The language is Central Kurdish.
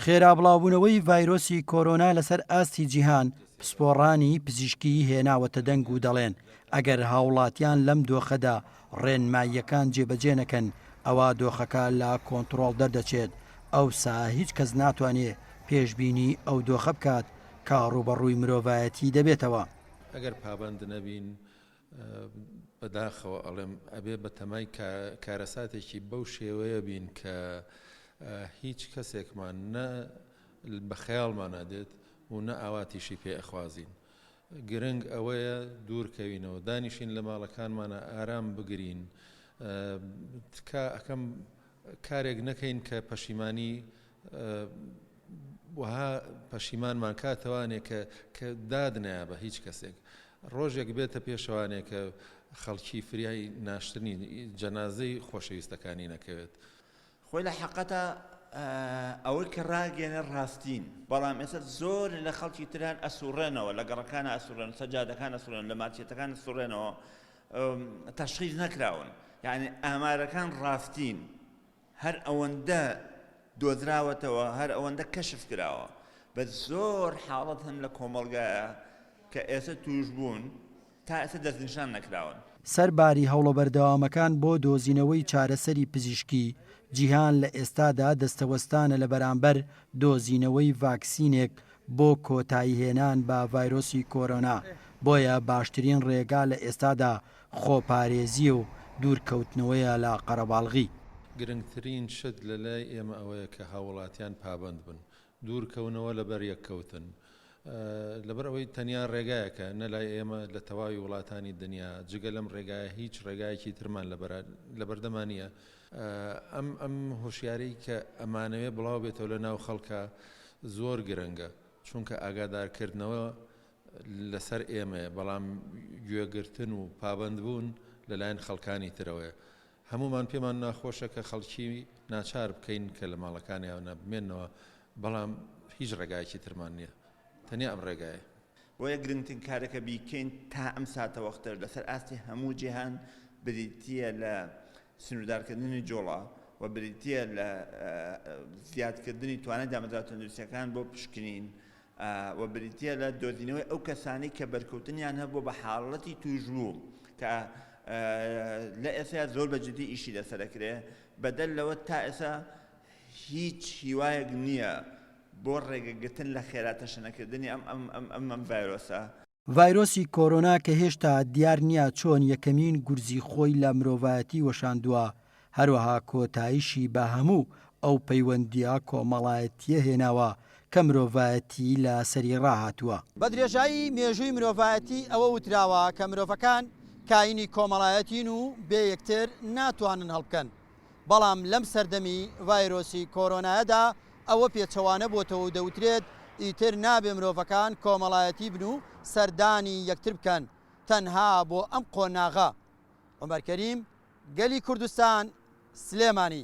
خێرا بڵاوبوونەوەی ڤایرۆسی کۆرۆنا لەسەر ئاستی جیهان پسپۆڕانی پزیشکی هێناوەتە دەنگ و دەڵێن ئەگەر هاوڵاتیان لەم دۆخەدا ڕێنماییەکان جێبەجێ نەکەن ئەوا دۆخەکە لە کۆنتڕۆڵ دەردەچێت ئەوسا هیچ کەس ناتوانێ پێشبینی ئەو دۆخە بکات کە ڕووبەڕووی مرۆڤایەتی دەبێتەوە. ئەگەر پابەند نەبین بە داخەوە ئەڵێم ئەبێ بە تەمای کارەساتێکی بەو شێوەیە بین کە هیچ کەسێکمان نە بە خەیاڵمان نادێت و نە ئاواتیشی پێ ئەخوازین. گرنگ ئەوەیە دوورکەوینەوە دانیشین لە ماڵەکانمانە ئارام بگرین تکا ئەەکەم کارێک نەکەین کە پەشیمانی وەها پەشیمانمان کا تەوانێ کە کە داد نایا بە هیچ کەسێک ڕۆژێک بێتە پێشەوانێ کە خەڵکی فریای ناشتنی جەنازەی خۆشەویستەکانی نەکەوێت. خۆی لە حەقەتە ئەوەی کە ڕاگەیەنێ ڕاستین بەڵام ئێستا زۆر لە خەڵکی تر هەن ئەسوڕێنەوە لە گەڕەکانە ئەسوڕێن سەجادەکان ئەسوڕێن لە مارکێتەکان ئەسوڕێنەوە تەشخیص نەکراون یعنی ئامارەکان ڕاستین هەر ئەوەندە دۆزراوەتەوە هەر ئەوەندە کەشف کراوە بە زۆر حاڵەت هەن لە کۆمەڵگایە کە ئێستا توش بوون تا ئێستا دەستنیشان نەکراون. سەر باری هەوڵە بەردەوامەکان بۆ دۆزینەوەی چارەسەری پزیشکی، جیهان لە ئێستادا دەستەوەستانە لە بەرامبەر دۆزینەوەی ڤاکسینێک بۆ کۆتاییهێنان بە ڤایرۆسی کۆرۆنا، بۆیە باشترین ڕێگا لە ئێستادا خۆپارێزییە و دوورکەوتنەوەیە لە قەرەباڵغی. گرنگترین شت لە لای ئێمە ئەوەیە کە هاووڵاتیان پابەند بن، دوورکەونەوە لە بەریەککەوتن، لەبەر ئەوەی تەنیا ڕێگایەکە، نە لای ئێمە، لە تەواوی وڵاتانی دنیا، جگە لەم ڕێگایە هیچ ڕێگایەکی ترمان لە بەردەما نییە. ئەم هۆشیاریی کە ئەمانەوێ بڵاو بێتەوە لە ناو خەڵکا زۆر گرنگە، چونکە ئاگادارکردنەوە لەسەر ئێمەیە، بەڵام گوێگرتن و پابەندبوون لەلایەن خەڵکانی ترەوەیە. هەموومان پێمان ناخۆشە کە خەڵکی ناچار بکەین کە لە ماڵەکانیانە بمێننەوە، بەڵام هیچ ڕێگایەکی ترمان نییە، تەنیا ئەم ڕێگایە. بۆیە گرنگترین کارە کە بیکەین تا ئەم ساتەوەختەش لەسەر ئاستی هەموو جیهان بریتییە لە سنووردارکردنی جوڵە و بریتییە لە زیادکردنی توانای دامەزراوە تەندروستییەکان بۆ پشکنین و بریتییە لە دۆزینەوەی ئەو کەسانەی کە بەرکەوتنیان هەبووە بە حاڵەتی تووشبوو کە لە ئێستا زۆر بە جدی ئیشی لەسەر دەکرێت، بەدەر لەوە تا ئێستا هیچ هیوایەک نییە بۆ ڕێگەگرتن لە خێراتەشەنەکردنی ئەم ڤایرۆسە. ڤایرۆسی کۆرۆنا کە هێشتا دیار نییە چۆن یەکەمین گورزی خۆی لە مرۆڤایەتی وەشاندووە، هەروەها کۆتایشی بە هەموو ئەو پەیوەندییە کۆمەڵایەتییە هێناوە کە مرۆڤایەتی لە سەری ڕاهاتووە. بە درێژایی مێژووی مرۆڤایەتی ئەوە وتراوە کە مرۆڤەکان کایینی کۆمەڵایەتین و بێ یەکتر ناتوانن هەڵبکەن. بەڵام لەم سەردەمی ڤایرۆسی کۆرۆنایەدا ئەوە پێچەوانە بۆتەوە و دەوترێت ئیتر نابێ مرۆڤەکان کۆمەڵایەتی بن و سەردانی یەکتر بکەن تەنها بۆ ئەم قۆناغە عومەر کەریم گەلی کوردستان سلێمانی.